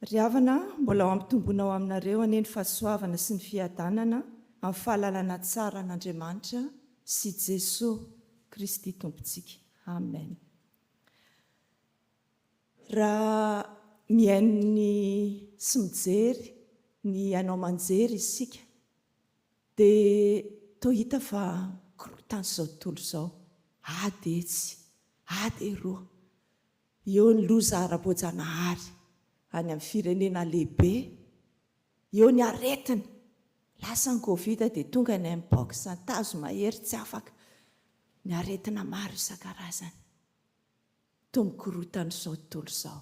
Ry havana, mbola ho ampitomboina ao aminareo anie ny fahasoavana sy ny fiadanana amin'ny fahalalana tsara an'Andriamanitra sy Jesoa Kristy Tompontsika. Amen. Raha mihaino ny sy mijery ny haino aman-jery isika, Dia toa hita fa korontana izao tontolo izao, ady etsy, ady eroa, eo ny loza ara-boajanahary any amin'ny firenena lehibe, eo ny aretina, lasa ny covid dia tonga ny Mpox, ny tazo mahery tsy afaka, ny aretina maro isan-karazany. Toa mikorontana izao tontolo izao.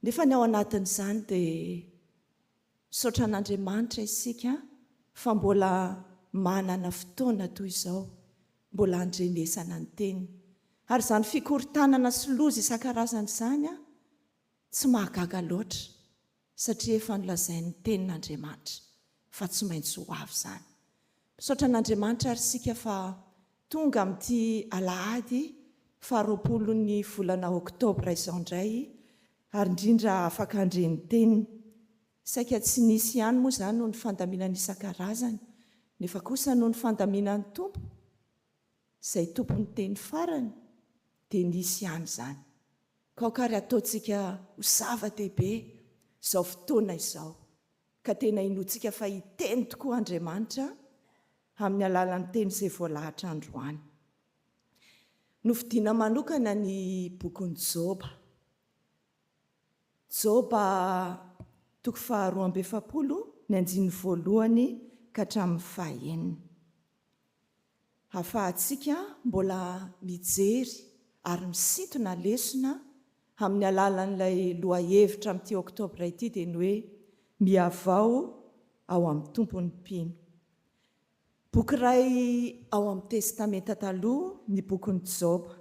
Nefa ny ao anatin'izany dia. Misaotra an'Andriamanitra isika fa mbola manana fotoana toy izao mbola handrenesana ny Teniny. Ary izany fikorontanana sy loza isan-karazany izany tsy mahagaga loatra satria efa nolazain'ny Tenin'Andriamanitra fa tsy maintsy ho avy izany. Misaotra an'Andriamanitra ary isika fa tonga amin'ity alahady faha roapolon'ny volana oktobra izao indray ary indrindra afaka handre ny teniny. Saika tsy nisy ihany moa izany noho ny fandaminana isan-karazany nefa kosa noho ny fandaminan'ny Tompo izay tompon'ny teny farany dia nisy ihany izany. Kaoka ary ataontsika ho zava-dehibe izao fotoana izao ka tena inoantsika fa hiteny tokoa Andriamanitra amin'ny alalan'ny Teny izay voalahatra androany. Nofidina manokana ny bokin'i Joba. Joba toko faharoa amby efapolo, ny andininy voalohany ka hatramin'ny fahenina. hahafahantsika mbola mijery ary misintona lesona amin'ny alalan'ilay lohahevitra amin'ity Oktobra ity dia ny hoe Mihavao ao amin'ny Tompo ny mpino. Boky iray ao amin'ny Testamenta Taloha ny bokin'i Joba,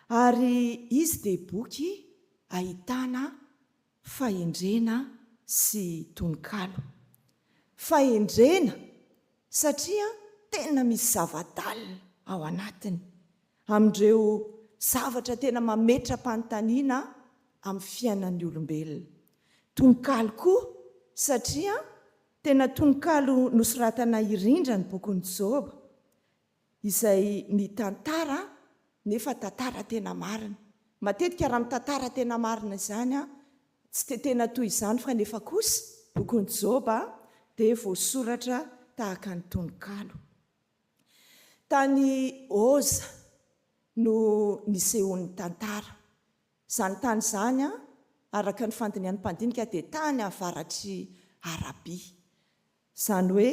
ary izy dia boky ahitana fahendrena sy tononkalo. Fahendrena satria tena misy zava-dalina ao anatiny, amin'ireo zavatra tena mametra-panontaniana amin'ny fiainan'ny olombelona. Tononkalo koa satria tena tononkalo nosoratana irindra ny bokin'i Joba, izay mitantara nefa tantara tena marina. Matetika raha mitantara tena marina izany an, tsy dia tena toy izany fa nefa kosa bokin'i Joba dia voasoratra tahaka ny tononkalo. Tany Oza no nisehoan'ny tantara. Izany tany izany an, araka ny fandinihan'ny mpandinika dia tany avaratr'i Arabia. Izany hoe,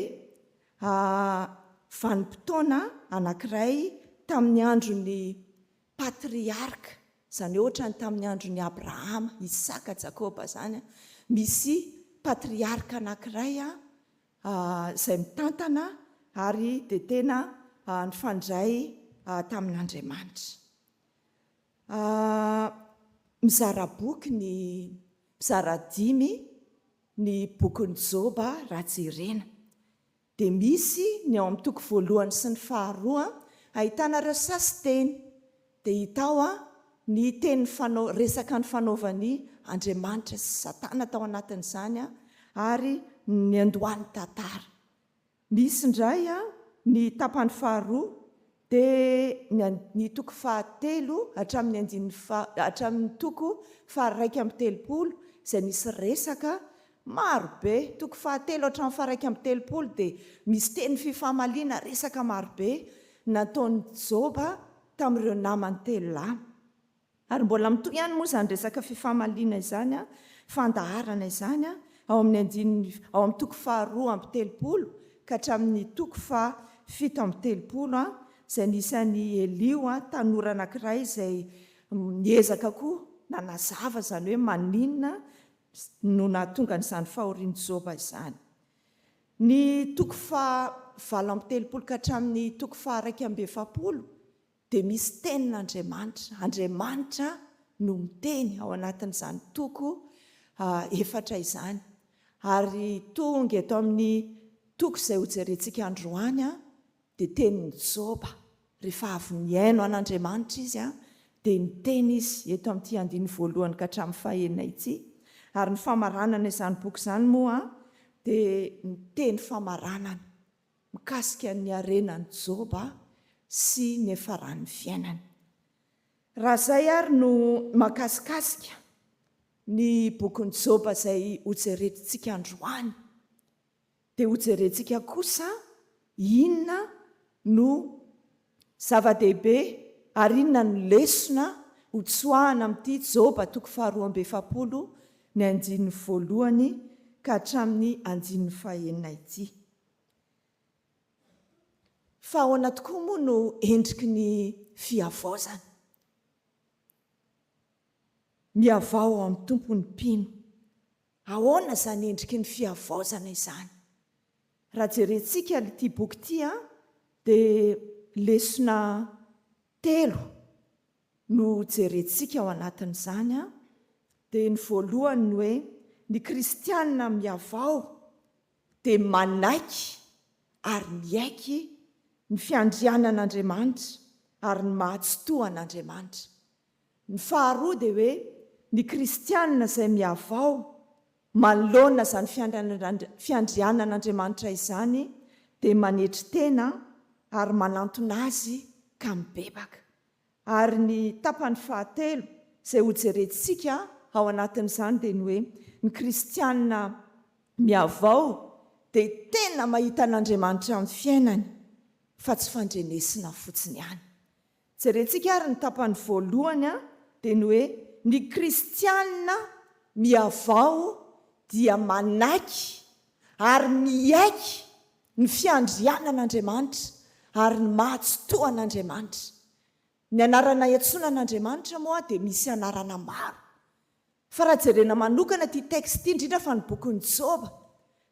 a vanim-potoana anankiray tamin'ny andron'ny patriarka, izany hoe ohatran'ny tamin'ny andron'i Abrahama, Isaka, Jakoba izany an, misy patriarka anankiray izay mitantana ary dia tena nifandray tamin'Andriamanitra. Mizara boky ny, mizara dimy. Ny bokin'i Joba raha jerena dia misy ny ao amin'ny toko voalohany sy ny faharoa ahitana ireo sasi-teny dia hita ao ny teny resaka nifanaovan'i Andriamanitra sy Satana tao anatin'izany ary niandohan'ny tantara. Misy indray ny tapany faharoa dia ny an ny toko faha telo hatramin'ny andininy fa hatramin'ny toko faha raika amby telopolo izay misy resaka maro be. Toko faha telo hatramin'ny faha raika amby telopolo dia misy teny fifamaliana resaka maro be nataon'i Joba tamin'ireo namany telo lahy. Ary mbola mitohy ihany moa izany resaka fifamaliana izany an, fandaharana izany an, ao amin'ny andininy, ao amin'ny toko faharoa amby telopolo ka hatramin'ny toko faha fito amby telopolo an, izay nisy an'i Eliho an, tanora anankiray izay niezaka koa nanazava izany hoe maninona no nahatonga an'izany fahorian'i Joba izany. Ny toko faha valo amby telopolo ka hatramin'ny toko faha iraika amby efapolo dia misy tenin'Andriamanitra. Andriamanitra no miteny ao anatin'izany toko efatra izany. Ary tonga eto amin'ny toko izay hojerentsika androany dia tenin'i Joba. Rehefa avy nihaino an'Andriamanitra izy dia niteny izy eto amin'ity andininy voalohany ka hatramin'ny fahenina ity. Ary ny famaranana izany boky izany moa dia ny teny famaranana. mikasika ny harenan'i Joba sy ny efaran'ny fiainany. Raha izay ary no makasikasika ny bokin'i Joba izay hojerentsika androany, dia hojerentsika kosa inona no Zava-dehibe ary inona no lesona ho tsoahana amin'ity Joba toko faharoa amby efapolo ny andininy voalohany ka hatramin'ny andininy fahenina ity? Fa ahoana tokoa moa no endriky ny fihavaozana? Mihavao ao amin'ny Tompo ny mpino. Ahoana izany endriky ny fihavaozana izany? Raha jerentsika ity boky ity dia lesona telo no jerentsika ao anatin'izany dia ny voalohany ny hoe ny kristiana mihavao dia manaiky ary miaiky ny fiandrianan'Andriamanitra ary ny maha-tsitohan'Andriamanitra. Ny faharoa dia hoe ny kristianina izay mihavao manoloana izany fiandrianan'Andriamanitra izany dia manetry tena ary manantona Azy ka mibebaka. Ary ny tapany fahatelo izay hojerentsika ao anatin'izany dia ny hoe ny kristianina mihavao dia tena mahita an'Andriamanitra amin'ny fiainany fa tsy fandrenesina fotsiny ihany. Jerentsika ary ny tapany voalohany dia ny hoe ny kristiana mihavao dia manaiky ary miaiky ny fiandrianan'Andriamanitra ary ny maha tsitoha an'Andriamanitra. Ny anarana iantsoana an'Andriamanitra moa dia misy anarana maro. Fa raha jerena manokana ity texte ity, indrindra fa ny bokin'i Joba,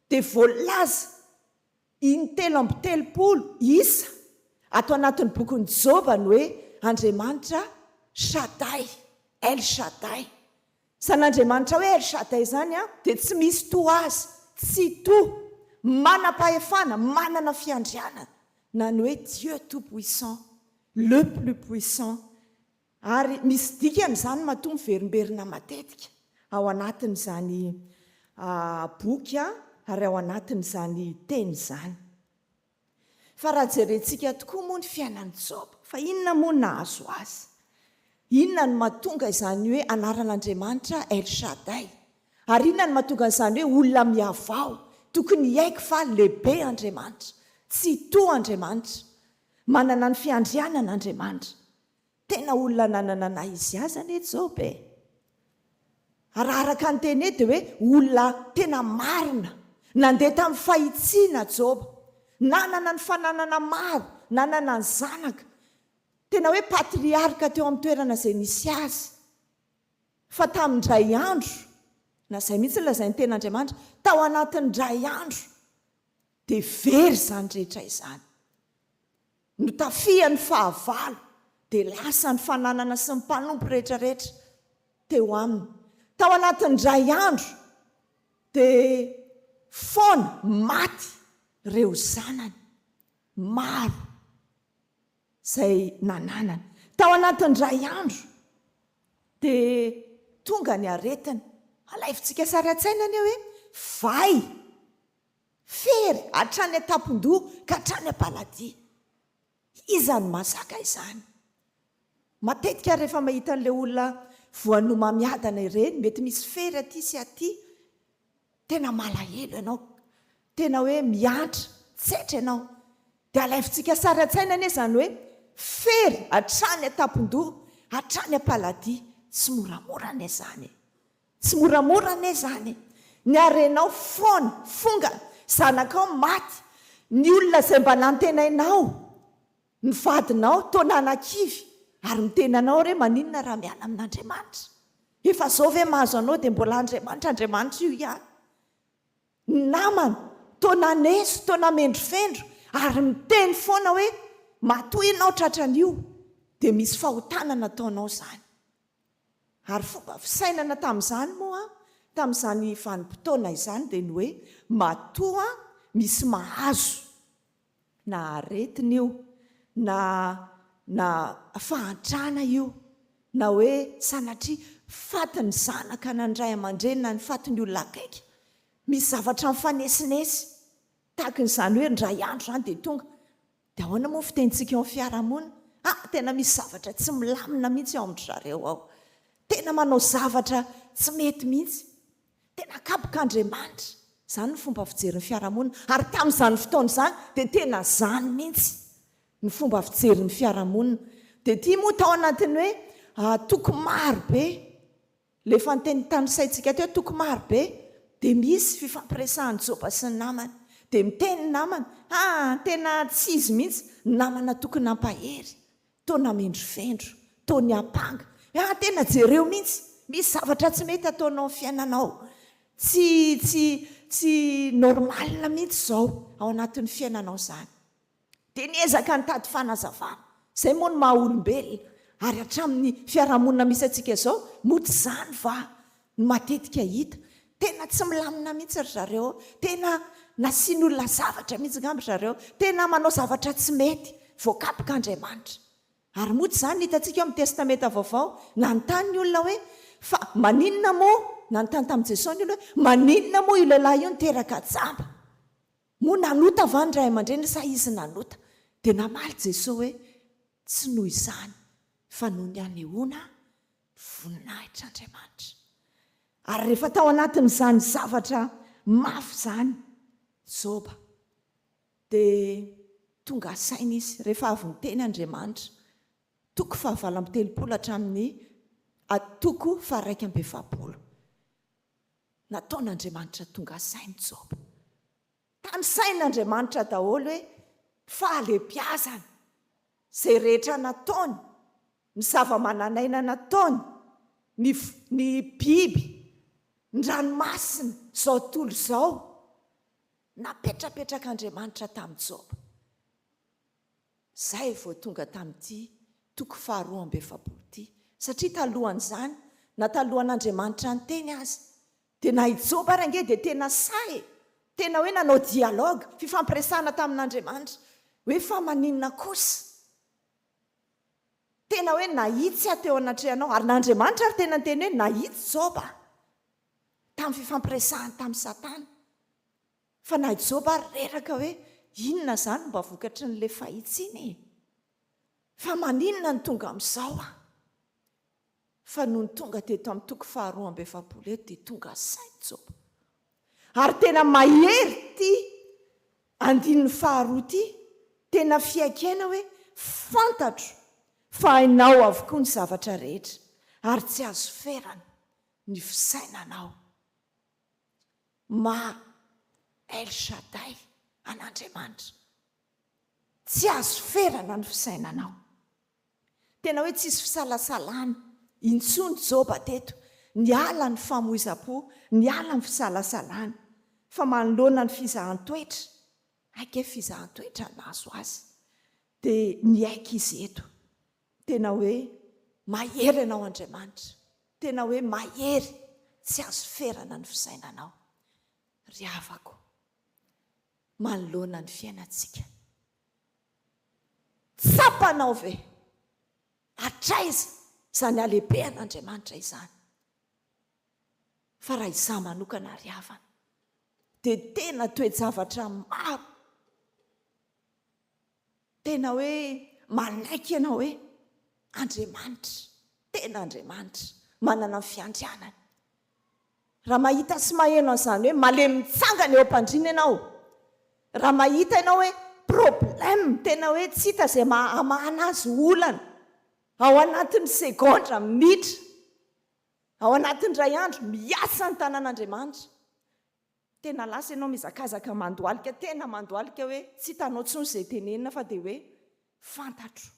dia voalaza In-telo amby telopolo isa ato anatin'ny bokin'i Joba ny hoe Andriamanitra Shaddai, El Shaddai. Izany Andriamanitra hoe El Shaddai izany dia tsy misy toa azy, tsitoha, manam-pahefana, manana fiandrianana, na ny hoe Dieu tout-puissant, Le plus puissant, Ary misy dikany izany matoa miverimberina matetika ao anatin'izany boky ary ao anatin'izany teny izany. Fa raha jerentsika tokoa moa ny fiainan'i Joba, fa inona moa no nahazo azy? Inona no mahatonga izany hoe anaran'Andriamanitra El Shaddai? Ary inona no mahatonga an'izany hoe olona mihavao? Tokony hiaiky fa lehibe Andriamanitra, tsitoha Andriamanitra, manana ny fiandrianana Andriamanitra. Tena olona nanana nahy izy azy anie Joba e! Raha araka ny teny eto dia hoe olona tena marina. Nandeha tamin'ny fahitsiana Joba. Nanana ny fananana maro, nanana ny zanaka. Tena hoe patriarka teo amin'ny toerana izay nisy azy. Fa tamin-dray andro, na izay mihitsy no lazain'ny Tenin'Andriamanitra, tao anatin'ny iray andro dia very izany rehetra izany. Notafihan'ny fahavalo, dia lasa ny fananana sy ny mpanompo rehetrarehetra teo aminy. Tao anatin'ny iray andro, dia foana maty ireo zanany maro izay nananany. Tao anatin'ny iray andro, dia tonga ny aretina. Alaivontsika sary an-tsaina anie hoe vay. Fery hatrany an-tampon-doha ka hatrany am-paladia. Iza no mahazaka izany? Matetika rehefa mahita an'ilay olona voanomamiadana ireny, mety misy fery aty sy aty, tena malahelo ianao, tena hoe mihantra, tsetra ianao. Dia alaivintsika sary an-tsaina anie izany hoe fery hatrany an-tampon-doha, hatrany am-paladia. Tsy moramora anie izany e! Tsy moramora anie izany. Ny harenao foana, fonga, zanakao maty, ny olona izay mba nantenainao, ny vadinao, toa nanakivy, ary miteny anao re maninona raha miala amin'Andriamanitra? Efa izao ve mahazo anao dia mbola Andriamanitra, Andriamanitra io ihany? Ny namana, toa naneso, toa namendrofendro, ary miteny foana hoe matoa ianao tratran'io, dia misy fahotana nataonao izany. Ary fomba fisainana tamin'izany moa, tamin'izany vanim-potoana izany dia ny hoe matoa misy mahazo, na aretina io, na na fahantrana io, na hoe sanatria fatin'ny zanaka na ny ray aman-dreny na ny fatin'ny olona akaiky, misy zavatra mifanesinesy, tahaka ny izany hoe indray andro izany dia tonga Dia ahoana moa ny fitenintsika eo amin'ny fiarahamonina? Ha, tena misy zavatra tsy milamina mihitsy ao amin-dry zareo ao. Tena manao zavatra tsy mety mihitsy. Tena akapoka Andriamanitra. Izany ny fomba fijery ny fiarahamonina. Ary tamin'izany fotoana izany dia tena izany mihitsy ny fomba fijery ny fiarahamonina. Dia ity moa tao anatin'ny hoe toko maro be. Ilay fanonteny tanisaintsika teo, toko maro be, dia misy fifampiresahan'i Joba sy ny namany. Dia miteny ny namany, Ha! tena tsy izy mihitsy, ny namana tokony hampahery, toa namendrovendro, toa niampanga. Ha! tena jereo mihitsy, misy zavatra tsy mety ataonao amin'ny fiainanao. Tsy, tsy, tsy normal mihitsy izao ao anatin'ny fiainanao izany. dia niezaka nitady fanazavana. Izay moa no maha olombelona. Ary hatramin'ny fiarahamonina misy antsika izao, moa tsy izany va no matetika hita. Tena tsy milamina mihitsy ry zareo. Tena nasian'olona zavatra mihitsy angamba ry zareo. Tena manao zavatra tsy mety. Voakapoka Andriamanitra. Ary moa tsy izany no hitantsika ao amin'ny Testamenta Vaovao. Nanontany ny olona hoe, Fa maninona moa, nanontany tamin'i Jesosy ny olona hoe, maninona moa io lehilahy io niteraka jamba? Moa nanota va ny ray aman-dreniny sa izy nanota? Dia namaly Jesoa hoe, Tsy noho izany, fa noho ny hanehoana ny voninahitr'Andriamanitra. Ary rehefa tao anatin'izany zavatra mafy izany Joba, dia tonga saina izy, rehefa avy niteny Andriamanitra, toko fahavalo amby telopolo hatramin'ny toko faharaika amby efapolo. nataon'Andriamanitra tonga sain'i Joba. Tanisain'Andriamanitra daholo hoe fahalebiazany, izay rehetra nataony, ny zava-manan'aina nataony, ny ny biby, ny ranomasina, izao tontolo izao. Napetrapetrak'Andriamanitra tamin'i Joba. izay vao tonga tamin'ity toko faharoa amby efapolo ity, satria talohan'izany na talohan'Andriamanitra niteny aza dia na i Joba ary ange dia tena sahy e! tena hoe nanao dialogue, fifampiresahana tamin'Andriamanitra, hoe fa maninona kosa? tena hoe nahitsy aho teo anatrehanao, ary na Andriamanitra ary tena niteny hoe nahitsy Joba tamin'ny fifampiresahany tamin'i Satana. Fa na i Joba ary reraka hoe inona izany no mba vokatry ny le fahitsiana e? Fa maninona no tonga amin'izao aho? Fa nony tonga teto amin'ny toko faharoa amby efapolo eto dia tonga saina Joba. Ary tena mahery ity andininy faharoa ity, tena fiaikena hoe fantatro fa hainao avokoa ny zavatra rehetra ary tsy azo ferana ny fisainanao Mah El Shaddai, an'Andriamanitra. Tsy azo ferana ny fisainanao. Tena hoe tsisy fisalasalana intsony Joba teto, niala ny famoizam-po, niala ny fisalasalana, fa manoloana ny fizahan-toetra, hay kay fizahan-toetra nahazo azy, dia niaiky izy eto. Tena hoe mahery Ianao Andriamanitra, tena hoe mahery, tsy azo ferana ny fisainanao. Ry havako, manoloana ny fiainantsika, tsapanao ve hatraiza izany halebehan' Andriamanitra izany? Fa raha izaho manokana ry havana dia tena toe-javatra maro, Tena hoe manaiky ianao hoe Andriamanitra, tena Andriamanitra, manana ny fiandrianany. Raha mahita sy maheno an'izany hoe malemy mitsangana eo am-pandriana ianao, raha mahita ianao hoe problème tena hoe tsy hita izay maha hamahana azy, olana, ao anatin'ny segondra, minitra, ao anatin'ny iray andro, miasa ny tanan'Andriamanitra. Tena lasa ianao mihazakazaka mandohalika tena mandohalika hoe tsy hitanao intsony izay tenenina fa dia hoe fantatro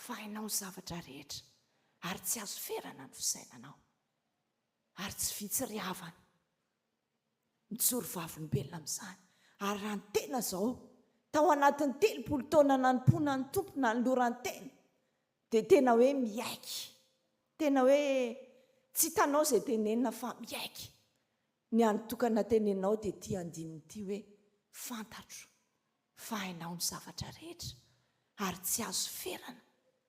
fa hainao ny zavatra rehetra ary tsy azo ferana ny fisainanao ary tsy vitsy ry havana mijoro vavolombelona amin'izany ary raha ny tena izao tao anatin'ny telopolo taona nanompoana ny Tompo nanoloran-tena Dia tena hoe miaiky. Tena hoe tsy hitanao izay tenenina fa miaiky. Ny andro tokana teneninao dia ity andininy ity hoe, Fantatro fa hainao ny zavatra rehetra ary tsy azo ferana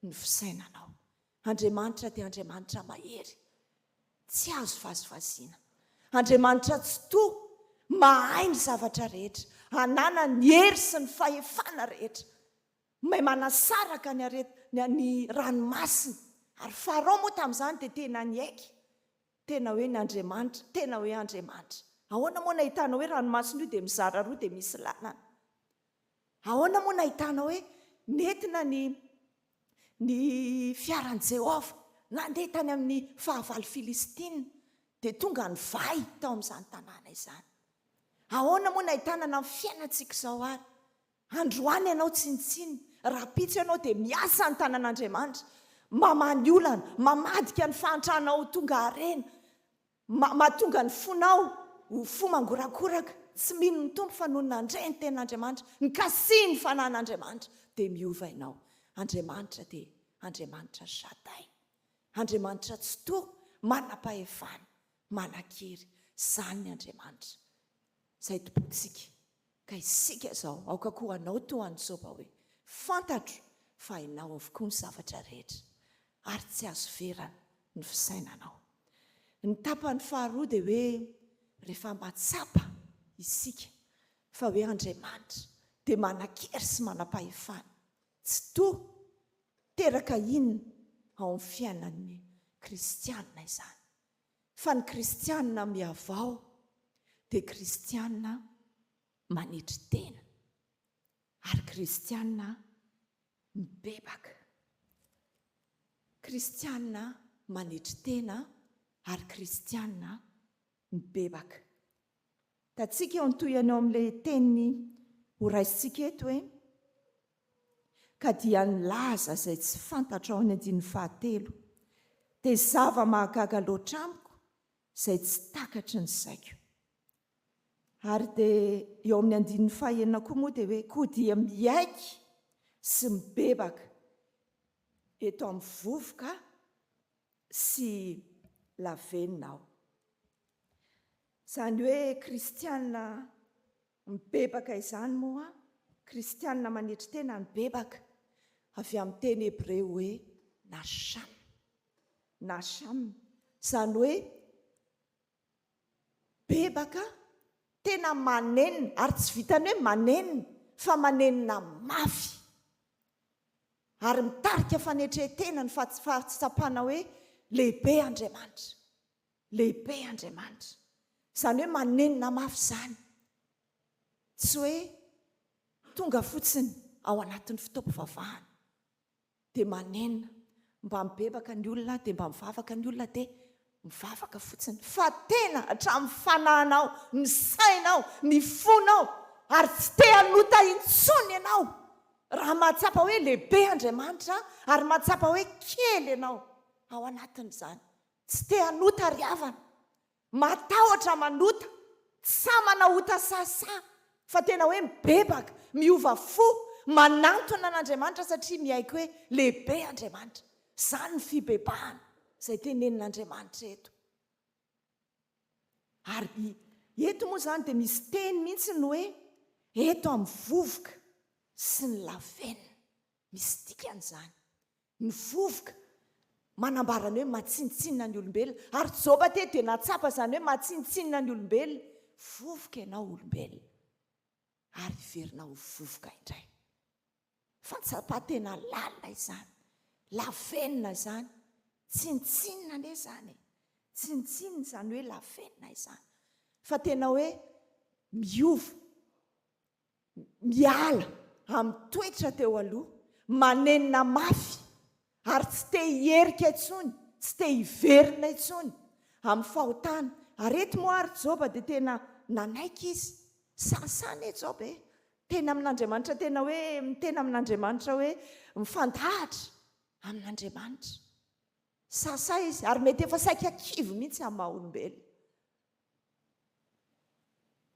ny fisainanao. Andriamanitra dia Andriamanitra mahery, tsy azo vazivaziana. Andriamanitra tsitoha, mahay ny zavatra rehetra, ananany hery sy ny fahefana rehetra. May manasaraka ny aret ny ranomasina. Ary Farao moa tamin'izany dia tena niaiky tena hoe ny Andriamanitra, tena hoe Andriamanitra. Ahoana moa no nahitana hoe ranomasina io dia mizara roa dia misy lalana? Ahoana moa no nahitana hoe nentina ny ny fiaran'i Jehovah nandeha tany amin'ny fahavalo Filistina dia tonga nivay tao amin'izany tanàna izany? Ahoana moa no nahitana na amin'ny fiainantsika izao ary? Androany ianao tsinontsino, rahampitso ianao dia miasa ny tanan'Andriamanitra, mamaha ny olana, mamadika ny fahantrana ho tonga harena, ma, mahatonga ny fonao ho fo mangorakoraka, tsy mino ny Tompo fa nony nandre ny tenin'Andriamanitra, nikasihy ny fanahin'Andriamanitra dia miova ianao. Andriamanitra dia Andriamanitra Shaddai, Andriamanitra Tsitoha, Manam-pahefana, Manan-kery, izany ny Andriamanitra izay Tompontsika. Ka isika izao, aoka koa hanao toa an'i Joba hoe, Fantatro fa Ianao avokoa ny zavatra rehetra, ary tsy azo verana ny fisainanao. Ny tapany faharoa dia hoe, rehefa mahatsapa isika fa hoe Andriamanitra dia manan-kery sy manam-pahefana tsy toha, teraka inona ao amin'ny fiainan'ny kristiana izany? fa ny kristiana mihavao dia kristiana manetry tena ary kristiana mibebaka. Kristiana manetry tena ary kristiana mibebaka. Hitantsika eo ny tohiny ao amin'ilay teny horaisintsika eto hoe ka dia nilaza izay tsy fantatra ao amin'ny andininy fahatelo. Dia zava-mahagaga loatra amiko izay tsy takatry ny saiko. Ary dia eo amin'ny andininy fahenina koa moa dia hoe koa dia miaiky sy mibebaka eto amin'ny vovoka sy lavenona aho. Izany hoe kristiana mibebaka izany moa, kristiana manetry tena no bebaka, avy amin'ny teny hebreo hoe nasham, nasham, izany hoe Mibebaka aho, tena manenina, ary tsy vitan'ny hoe manenina fa manenina mafy. Ary mitarika fanetren-tena ny fahatsapana hoe lehibe Andriamanitra. Lehibe Andriamanitra. Izany hoe manenina mafy izany. Tsy hoe tonga fotsiny ao anatin'ny fotoam-pivavahana. dia manenina, mba mibebaka ny olona dia mba mivavaka ny olona dia mivavaka fotsiny fa tena hatramin'ny fanahinao, ny sainao, ny fonao ary tsy te hanota intsony ianao raha mahatsapa hoe lehibe Andriamanitra ary mahatsapa hoe kely ianao ao anatin'izany, tsy te hanota ry havana. Matahotra manota, tsy sahy manao ota sahasaha, fa tena hoe mibebaka, miova fo, manantona an'Andriamanitra satria miaiky hoe lehibe Andriamanitra. Izany ny fibebahana izay tenenin'Andriamanitra eto. Ary eto moa izany dia misy teny mihitsy ny hoe eto amin'ny vovoka sy ny lavenona. Misy dikany izany. Ny vovoka, manambara ny hoe matsinontsinona ny olombelona. Ary Joba teto dia nahatsapa izany hoe matsinontsinona ny olombelona. Vovoka ianao olombelona, ary hiverina ho vovoka indray. Fahatsapan-tena lalina izany, lafenina izany. Tsinontsinona anie izany e! Tsinontsinona izany hoe lafenina izany. Fa tena hoe miova. miala amin'ny toetra teo aloha, manenina mafy ary tsy te hierika intsony, tsy te hiverina intsony amin'ny fahotana. Ary eto moa ary Joba dia tena nanaiky izy, sahasaha ê Joba ê, teny amin'Andriamanitra tena hoe miteny amin'Andriamanitra hoe mifandahatra amin'Andriamanitra. Sahasaha izy ary mety efa saika kivy mihitsy amin'ny maha olombelona.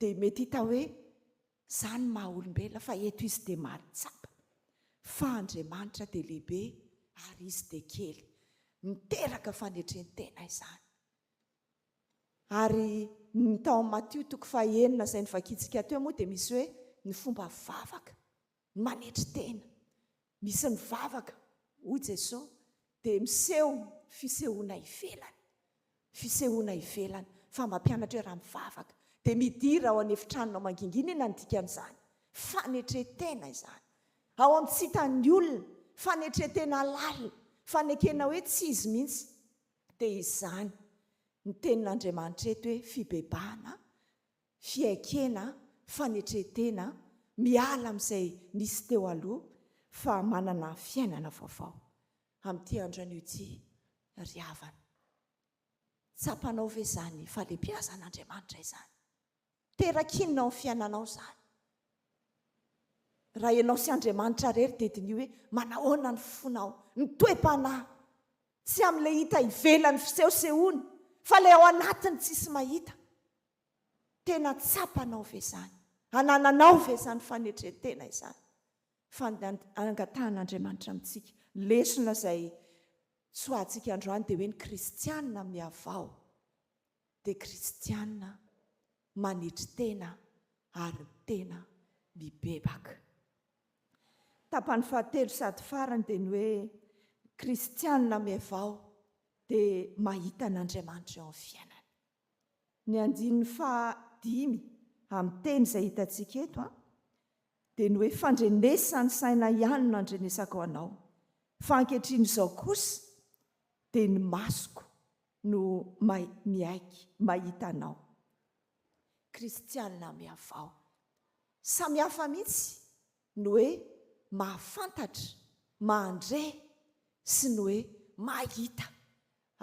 Dia mety hita hoe zany ny maha olombelona fa eto izy dia maly tsapa fa Andriamanitra dia lehibe ary izy dia kely. Miteraka fanetrentena izany. Ary ny tao amin'ny Matio toko faha enina izay novakintsika teo moa dia misy hoe ny fomba vavaka. Ny manetry tena. Misy ny vavaka, hoy Jesosy, dia miseho fisehoana ivelany. Fisehoana ivelany. Fa mampianatra hoe raha mivavaka, dia midira ao an'efitranonao mangingina, inona no dikan'izany? Fanetren-tena izany. Ao amin'ny tsy hitan'ny olona. Fanetren-tena lalina. Fanekena hoe tsy izy mihitsy. Dia izany ny tenin'Andriamanitra eto hoe fibebahana fiaikena, fanetren-tena, miala amin'izay nisy teo aloha fa manana fiainana vaovao amin'ity andro anio ity ry havana. Tsapanao ve izany fahalebiazan'Andriamanitra izany? Terakinona ao amin'ny fiainanao izany? Raha ianao sy Andriamanitra irery dia diniho hoe manahoana ny fonao, ny toe-panahy, tsy amin'ilay hita ivelany fisehosehoana fa ilay ao anatiny tsisy mahita. Tena tsapanao ve izany? Anananao ve izany fanetren-tena izany? Fa ny angatahan'Andriamanitra amintsika, ny lesona izay tsoahantsika androany dia hoe ny kristiana mihavao dia kristiana manetry tena ary tena mibebaka. Tapany fahatelo sady farany dia ny hoe kristiana mihavao dia mahita an'Andriamanitra eo amin'ny fiainany. Ny andininy faha dimy amin'ny teny izay hitantsika eto an, dia ny hoe fandrenesa ny saina ihany no andrenesako anao, fa ankehitriny izao kosa dia ny masoko no mahay miaiky, mahita anao. Kristianina mihavao. Samy hafa mihitsy ny hoe mahafantatra, mahandre sy ny hoe mahita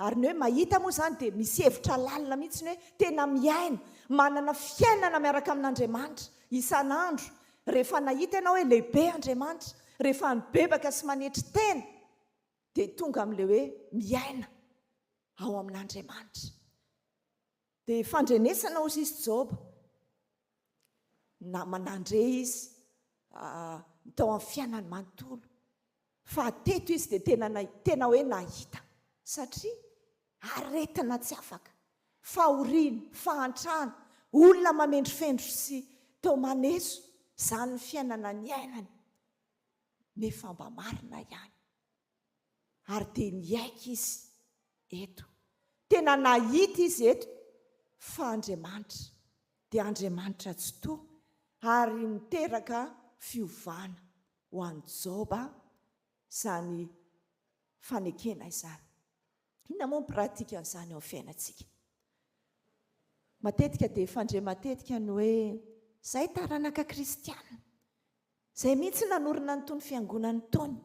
Ary ny hoe mahita moa izany dia misy hevitra lalina mihitsy ny hoe tena mihaino, manana fiainana miaraka amin'Andriamanitra isan'andro. Rehefa nahita ianao hoe lehibe Andriamanitra, rehefa nibebaka sy manetry tena, dia tonga amin'ilay hoe miaina ao amin'Andriamanitra. Dia fandrenesana ho sisy Joba. Na, nandre izy tao amin'ny fiainany manontolo. Fa teto izy dia tena na, tena hoe nahita. Satria aretina tsy afaka, fahoriana, fahantrana, olona mamendrofendro sy toa maneso izany ny fiainana niainany. Nefa mba marina ihany. ary dia niaiky izy eto, tena nahita izy eto fa Andriamanitra dia Andriamanitra tsitoha ary niteraka fiovana ho an'i Joba izany fanekena izany. Inona moa ny pratikan'izany eo amin'ny fiainantsika? Matetika dia fandre matetika ny hoe, izay taranaka kristiana, Izay mihitsy nanorina an'itony fiangonana itony.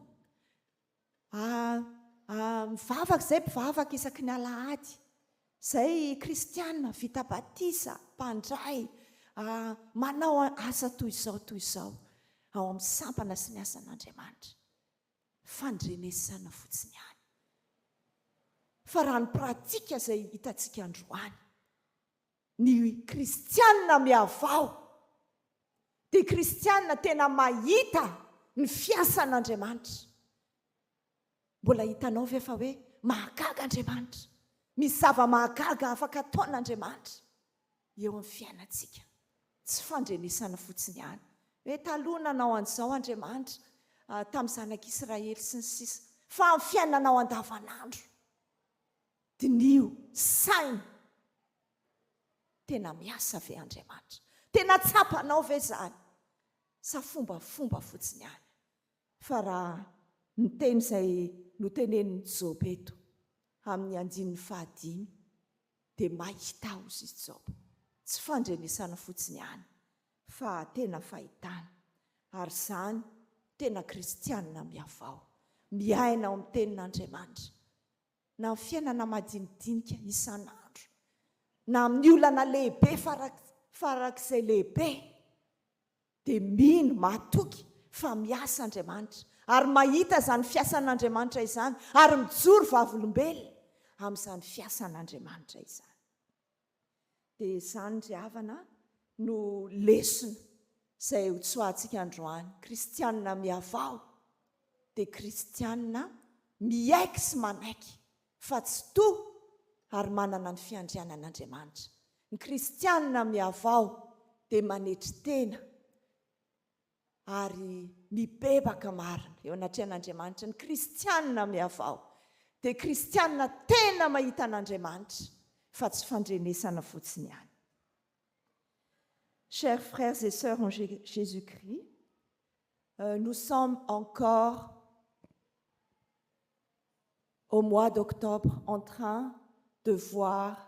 Mivavaka izay mpivavaka isaky ny alahady. Izay kristiana vita batisa, mpandray, manao asa toy izao toy izao ao amin'ny sampana sy ny asan'Andriamanitra. Fandrenesana fotsiny ihany. Fa raha ny pratika izay hitantsika androany, Ny kristiana mihavao dia kristiana tena mahita ny fiasan'Andriamanitra. Mbola hitanao ve fa hoe mahagaga Andriamanitra? Misy zava-mahagaga afaka ataon'Andriamanitra eo amin'ny fiainantsika. Tsy fandrenesana fotsiny ihany. Hoe taloha nanao an'izao Andriamanitra, ah, tamin'ny zanak'Israely sy ny sisa. Fa amin'ny fiainanao andavanandro. Diniho saina, tena miasa ve Andriamanitra? Tena tsapanao ve izany sa fombafomba fotsiny ihany? Fa raha ny teny izay notenenin'i Joba eto amin'ny andininy fahadimy dia mahita hozy i Joba, tsy fandrenesana fotsiny ihany fa tena fahitana. Ary izany tena kristianina mihavao, miaina ao amin'ny tenin'Andriamanitra, na amin'ny fiainana madinidinika isan'andro, na amin'ny olana lehibe farak'izay lehibe, dia mino, matoky fa miasa Andriamanitra, ary mahita izany fiasan'Andriamanitra izany, ary mijoro vavolombelona amin'izany fiasan'Andriamanitra izany. Dia izany ry havana no lesona izay ho tsoahantsika androany. Kristianina mihavaho dia kristianina miaiky sy manaiky fa tsy toa ary manana ny fiandrianan'Andriamanitra. Ny kristianina mihavaho dia manetry tena. ary mibebaka marina eo anatrehan'Andriamanitra ny kristianina mihavao dia kristianina tena mahita an'Andriamanitra fa tsy fandrenesana fotsiny ihany. Chers frères et sœurs en Jésus-Christ, euh, nous sommes encore au mois d'octobre en train de voir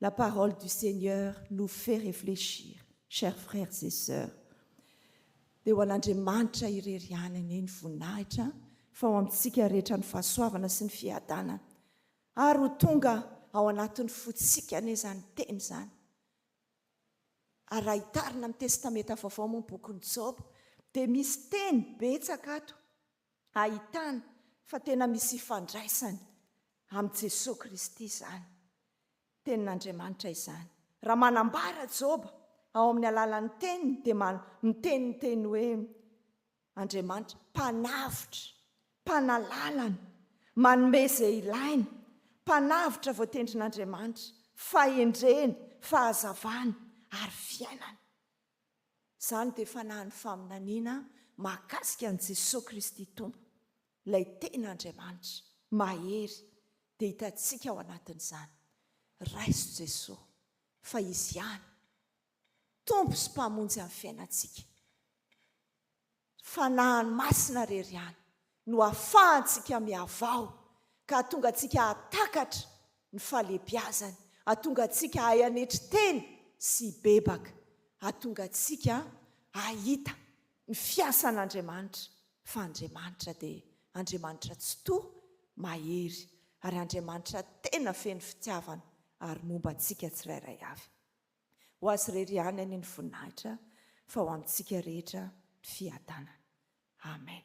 La parole du Seigneur nous fait réfléchir chers frères et sœurs dia ho an'Andriamanitra irery ihany anie ny voninahitra fa ho amintsika rehetra ny fahasoavana sy ny fiadanana ary ho tonga ao anatin'ny fotsika anie izany teny izany ary raha hitarina amin'ny testameta vaovao moa ny bokin'i Joba dia misy teny betsaka ato ahitana fa tena misy ifandraisany amin'i Jesoa Kristy izany Tenin'Andriamanitra izany. Raha manambara Joba ao amin'ny alalan'ny teniny dia miteny ny teny hoe Andriamanitra mpanavotra, mpanalalana, manome izay ilaina, mpanavotra voatendrin'Andriamanitra, fahendrena, fahazavana ary fiainana. Izany dia fanahin'ny faminaniana mahakasika an'i Jesoa Kristy Tompo, ilay tena Andriamanitra, mahery, dia hitantsika ao anatin'izany. Raiso Jesoa fa Izy ihany Tompo sy Mpamonjy an'ny fiainantsika. Fanahiny masina rery ihany no afahantsika mihavao ka hatonga antsika hahatakatra ny fahalebiazany, hatonga antsika hahay hanetry tena sy hibebaka, hatonga antsika hahita ny fiasan'Andriamanitra fa Andriamanitra dia Andriamanitra tsitoha, mahery ary Andriamanitra tena feno fitiavana ary momba antsika tsirairay avy. Ho Azy irery ihany anie ny voninahitra fa ho amintsika rehetra ny fiadanana. Amen.